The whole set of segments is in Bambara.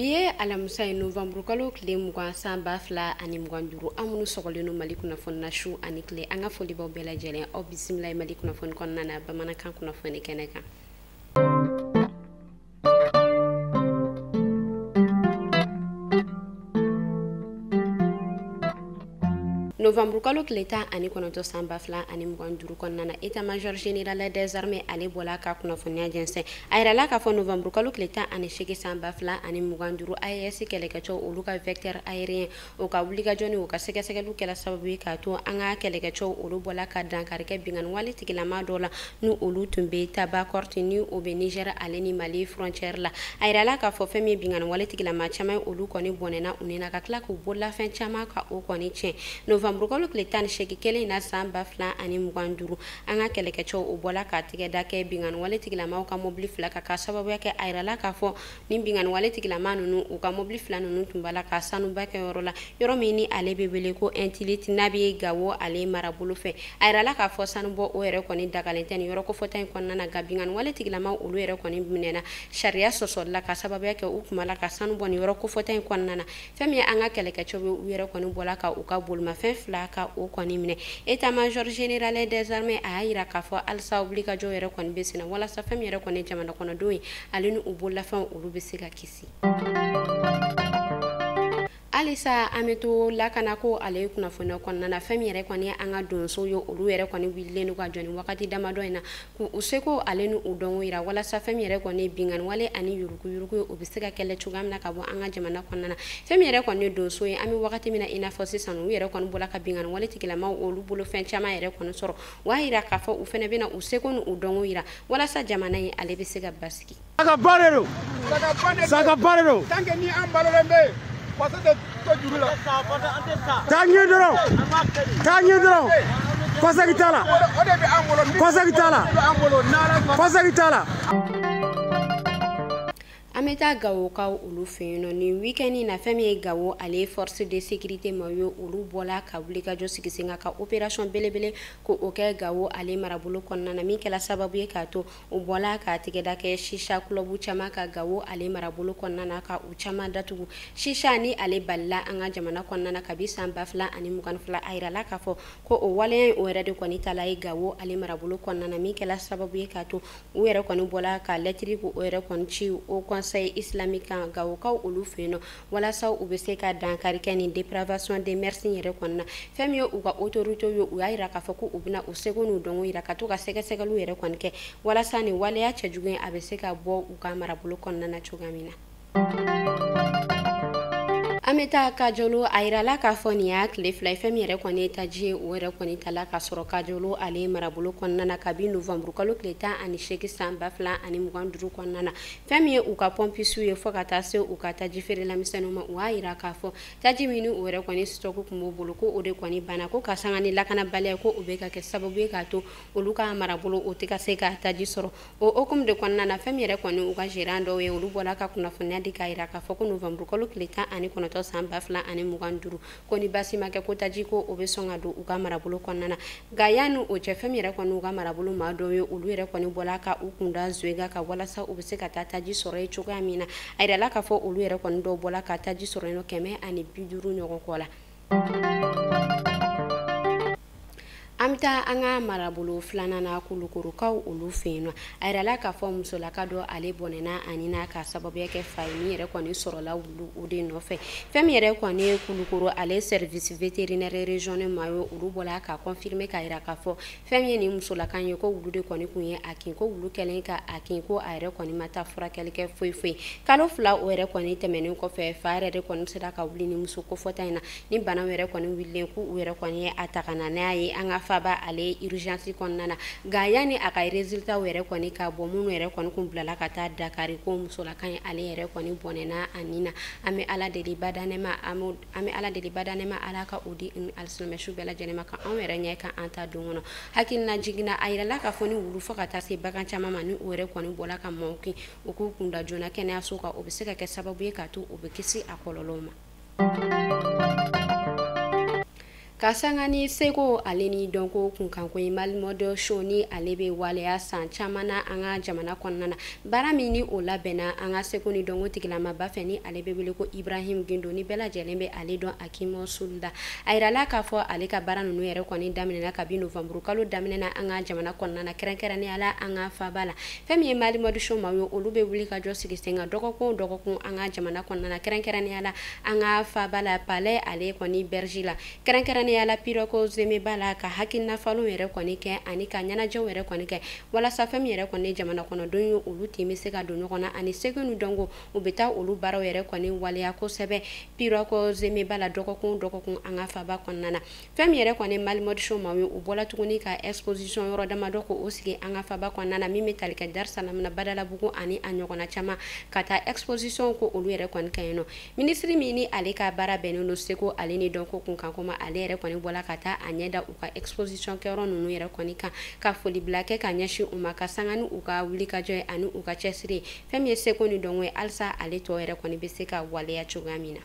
bi ye alamisa ye novanburu kalo tile mugan san ba fila ani mugan duuru aw minnu sɔgɔlen don mali kunnafoni na su ani tile an ka foli b'aw bɛɛ lajɛlen aw bisimila ye mali kunnafoni kɔnɔna na bamanankan kunnafoni kɛnɛ kan novanburukalo tile tan ani kɔnɔntɔn san ba fila ani mugan duuru kɔnɔna na état major général des armées ale bɔla ka kunnafoniya jɛnsɛn a yirɛla k'a fɔ novanburukalo tile tan ani seegin san ba fila ani mugan duuru aes kɛlɛkɛcɛw olu ka vecteur aérien o ka wulikajɔ ni o ka sɛgɛsɛgɛliw kɛla sababu ye k'a to an ka kɛlɛkɛcɛw olu bɔla ka dankari kɛ binkanni wale tigilama dɔ la ni olu tun bɛ tabankort ni o bɛ nizɛri ale ni mali frontiɛri la a yirala k'a fɔ fɛn min ye binkanni wale tigilama caman ye olu kɔni bɔnɛna u ni na ka tila k'u bololafɛn caman ka o kɔni tiɲɛ novanburukalo tile tan ni seegin kelen in na san ba fila ani mugan duuru an ka kɛlɛkɛcɛw o bɔla ka tigɛda kɛ binkanni wale tigilamaw ka mobili fila kan ka sababuya kɛ a yirala k'a fɔ ni binganiwale tigilama ninnu u ka mobili fila ninnu tun b'a la ka sanubɔ kɛ yɔrɔ la yɔrɔ min ni ale bɛ wele ko intilit n'a bɛ gawo ale marabolo fɛ a yirala k'a fɔ sanubɔ o yɛrɛ kɔni dagalen tɛ ni yɔrɔ kofɔta in kɔnɔna na nka binganiwale tigilama olu yɛrɛ kɔni minɛna sariya sɔsɔli la ka sababuya kɛ u tun b'a la ka sanu bɔ ni yɔrɔ kofɔta in kɔnɔna na fɛn min ye an ka kɛlɛkɛcɛw ye u yɛrɛ kɔni bɔla ka u ka bolimafɛn fila ka o kɔni minɛ état major général des armées a y'a yira k'a fɔ halisa wulikajɔ yɛrɛ kɔni bɛ senna walasa fɛn min yɛrɛ kɔni jamana kɔnɔdenw ye ale ni u bololafɛnw olu bɛ se ka kisi halisa an bɛ to lakanako ale kunnafoniya kɔnɔna na fɛn min yɛrɛ kɔni an ka donso ye olu yɛrɛ kɔni wulilen don ka jɔ nin wagati damadɔ in na K'u seko ale ni u dɔnko yira walasa fɛn min yɛrɛ kɔni ye binkanni wale ani yuruguyurugu ye o bɛ se ka kɛlɛ cogoya min na ka bɔ an ka jamana kɔnɔna na fɛn min yɛrɛ kɔni ye donso ye an bɛ wagati min na i n'a fɔ sisan u yɛrɛ kɔni bɔla ka binkanni wale tigilamaw olu bolo fɛn caman yɛrɛ kɔni sɔrɔ u y'a yira k'a fɔ u fɛnɛ bɛna u seko ni u dɔnko yira walasa jamana in ale bɛ se ka basigi Saga ba de don. Saga ba de don. Saga ba de don. Tant que ni an balolen bɛ yen, faso tɛ to juru la. Taa ɲɛ dɔrɔn. Taa ɲɛ dɔrɔn. Kɔsegin t'a la. O de bɛ an bolo. Kɔsegin t'a la. Kɔsegin t'a la. an bɛ taa gawokaw olu fɛ yen nɔ nin weekend in na fɛn min ye gawo ale force de sécurité maaw ye olu bɔla ka wulikajɔ sigi sen kan ka opération belebele ko o kɛ gawo ale marabolo kɔnɔna na min kɛla sababu ye k'a to O bɔla ka tigɛda kɛ chicha club caman kan gawo ale marabolo kɔnɔna na ka u caman datugu chicha ni ale balila an ka jamana kɔnɔna na kabi san ba fila ani mugan fila a yirala k'a fɔ ko o waleya o yɛrɛ de kɔni taala ɲɛ gawo ale marabolo kɔnɔna na min kɛla sababu ye k'a to u yɛrɛ kɔni bɔla ka lɛtiri k'o yɛrɛ kɔni ci haut conseil islamique kan gawokaw olu fɛ yen nɔ walasa u bɛ se ka dankari kɛ nin dépravation des mœurs yɛrɛ kɔni na fɛn min ye u ka autorité ye u y'a yira k'a fɔ ko u bɛna u seko n'u dɔnko yira ka to ka sɛgɛsɛgɛliw yɛrɛ kɔni kɛ walasa nin waleya cɛjugu in a bɛ se ka bɔ u ka marabolo kɔnɔna na cogoya min na an bɛ taa kajolo a yirala k'a fɔ nin y'a tile fila ye fɛn min yɛrɛ kɔni ye taji ye o yɛrɛ kɔni ta la ka sɔrɔ kajolo ale marabolo kɔnɔna na kabi novanburukalo tile tan ani seegin san ba fila ani mugan duuru kɔnɔna na Fɛn min ye u ka pɔnpisiw ye fɔ ka taa se u ka taji feerela misɛnninw ma u y'a yira k'a fɔ taji min ni u yɛrɛ kɔni stock tun b'o bolo ko o de kɔni banna ko ka sanga ni lakanabaliya ko o bɛ ka kɛ sababu ye k'a to olu ka marabolo o tɛ ka se ka taji sɔrɔ o hukumu de kɔnɔna na fɛn min yɛrɛ kɔni u ka gérant dɔw ye olu bɔla ka kunnafoniya di k'a yira k'a fɔ ko novanburukalo tile tan ani kɔnɔtɔ san ba fila ani mugan duuru ko ni basi ma kɛ ko taji ko o bɛ sɔn ka don u ka marabolo kɔnɔna na nka yanni o cɛ fɛn min yɛrɛ kɔni u ka marabolo maa dɔw ye olu yɛrɛ kɔni bɔla ka u kunda zoyega kan walasa u bɛ se ka taa taji sɔrɔ yen cogoya min na a yirala k'a fɔ olu yɛrɛ kɔni dɔw bɔla ka taji sɔrɔ yen nɔ kɛmɛ ani bi duuru ɲɔgɔn kɔ la an bɛ taa an ka marabolo filanan na kulukorokaw olu fɛ yen nɔ a yirala k'a fɔ musolaka dɔ ale bɔnɛna a ni na k'a sababuya kɛ fa ye min yɛrɛ kɔni sɔrɔla wulu o de nɔfɛ fɛn min yɛrɛ kɔni ye kulukoro ale service vétérinaire régional maaw ye olu bɔla k'a confirmer k'a yira k'a fɔ fɛn min ye nin musolaka in ye ko wulu de kɔni kun ye a kin ko wulu kɛlen ka a kin ko a yɛrɛ kɔni ma taa furakɛli kɛ foyi foyi kalo fila o yɛrɛ kɔni tɛmɛnen kɔfɛ fa yɛrɛ de kɔni sera ka wuli ni muso kofɔta in na ni bana yɛrɛ kɔni wililen ko u yɛrɛ kɔni ye a ta ka na n'a ye an ka faba ale urgence kɔnɔna na nka yanni a ka résultat yɛrɛ kɔni ka bɔ minnu yɛrɛ kɔni kun bilala ka taa Dakari ko musolaka in ale yɛrɛ kɔni bɔnɛna a ni na an bɛ Ala deli badaa nɛɛma an bɛ Ala deli badaa nɛɛma Ala ka o di alisilamɛ su bɛɛ lajɛlen ma ka anw yɛrɛ ɲɛ ka an taa don kɔnɔ hakililajigin na a yirala k'a fɔ ni wulu fɔ ka taa se bagan caman ma ni o yɛrɛ kɔni bɔla ka maaw kin u k'u kunda joona kɛnɛyaso kan o bɛ se ka kɛ sababu ye k'a to u bɛ kisi a kɔlɔlɔw ma ka sanga ni seko ale ni dɔnko kunkanko ye Mali Mode Show ni ale bɛ waleya san caman na an ka jamana kɔnɔna na baara min ni o labɛnna an ka seko ni dɔnko tigilamaba fɛ ni ale bɛ wele ko ibrahim gindo ni bɛɛ lajɛlen bɛ ale dɔn Akim Soul la a yirala k'a fɔ ale ka baara ninnu yɛrɛ kɔni daminɛna kabi novanburu kalo daminɛ na an ka jamana kɔnɔna na kɛrɛnkɛrɛnnenya la an ka faba la fɛn min ye Mali Mode Show maaw ye olu bɛ wulikajɔ sigi sen kan dɔgɔkun dɔgɔkun an ka jamana kɔnɔna kɛrɛnkɛrɛnnenya la an ka faba la Palais ale kɔni berges la kɛrɛnkɛrɛnnenya la Pirogue Zèmè ba la ka hakilina falenw yɛrɛ kɔni kɛ ani ka ɲɛnajɛw yɛrɛ kɔni kɛ walasa fɛn min yɛrɛ kɔni jamana kɔnɔ denw ye olu tun bɛ se ka don ɲɔgɔn na ani seko ni dɔnko u bɛ taa olu baaraw yɛrɛ kɔni waleya kosɛbɛ Pirogue Zèmè ba la dɔgɔkun dɔgɔkun an ka faba kɔnɔna na fɛn min yɛrɛ kɔni ye Mali Mode Show maaw ye u bɔla tuguni ka exposition yɔrɔ damadɔ ko o sigi an ka faba kɔnɔna na min bɛ tali kɛ Darisalamu na badalabugu ani a ɲɔgɔnna caman ka taa exposition ko olu yɛrɛ kɔni ka yen nɔ minisiri min ni ale ka baara bɛnnen don seko ale ni dɔnko kunkanko ma ale yɛrɛ kɔni bɔla ka taa a ɲɛ da u ka exposition kɛyɔrɔ ninnu yɛrɛ kɔni kan ka foli bila kɛ ka ɲɛsin u ma ka sanga ni u ka wulikajɔ ye ani u ka cɛsiri ye fɛn min ye seko ni dɔnko ye halisa ale tɔ yɛrɛ kɔni bɛ se ka waleya cogoya min na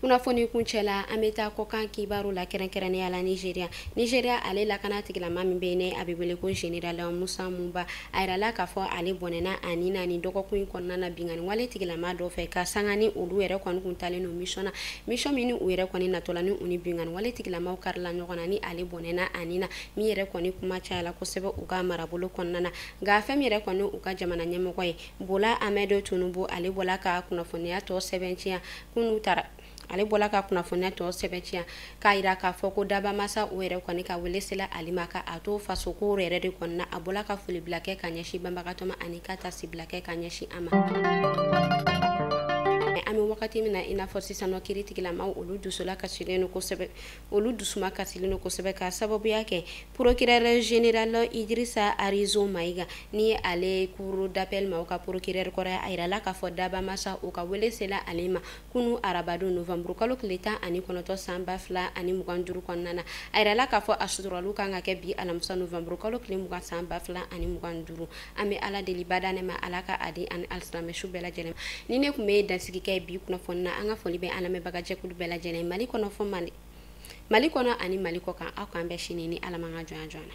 kunnafoni kuncɛ la an bɛ taa kɔkan kibaru la kɛrɛnkɛrɛnnenya la nigeria nigeria ale lakana tigilama min bɛ ni a bɛ wele ko general musa muba a yirala k'a fɔ ale bɔnɛna a ni na nin dɔgɔkun in kɔnɔna na binkanni wale tigilama dɔ fɛ ka sanga ni olu yɛrɛ kɔni kun taalen don mission na mission min ni u yɛrɛ kɔni natɔla ni u ni binkanni wale tigilamaw karila ɲɔgɔn na ni ale bɔnɛna a ni na min yɛrɛ kɔni kuma cayala kosɛbɛ u ka marabolo kɔnɔna na nka fɛn min yɛrɛ kɔni u ka jamana ɲɛmɔgɔ ye Bola Ahmed Tinubu ale bɔla ka kunnafoniya tɔ sɛbɛntiya kunu tara ale bɔla ka kunnafoniya tɔ sɛbɛntiya k'a yira k'a fɔ ko dabaa masa o yɛrɛ kɔni ka wele sela ale ma ka a to faso ko yɛrɛ de kɔni na a bɔla ka foli bila kɛ ka ɲɛsin banbagatɔ ma ani ka taasibila kɛ ka ɲɛsin a ma an bɛ wagati min na i n'a fɔ sisan nɔ kiritigilamaw olu dusu lakasilen don kosɛbɛ olu dusuma kasilen don kosɛbɛ ka sababuya kɛ procureur général Idrissa Arizo Maïga ni ale cour d'appel maaw ka procureur kɔrɔ ye a yirala k'a fɔ dabaa masa o ka wele sela ale ma kunu arabadon novembre kalo tile tan ani kɔnɔtɔ san ba fila ani mugan duuru kɔnɔna na a yirala k'a fɔ a suturali o kan ka kɛ bi alamisa novembre kalo tile mugan san ba fila ani mugan duuru an bɛ ala deli badaa nɛɛma ala ka a di ani alisilamɛ su bɛɛ lajɛlen nin de tun bɛ dansigi kɛ bi kunnafoni na an ka foli bɛ an lamɛnbagajɛkulu bɛɛ lajɛlen ye mali kɔnɔ fo mali mali kɔnɔ ani mali kɔkan aw k'an bɛn sini ni ala m'an ka jɔn jɔn na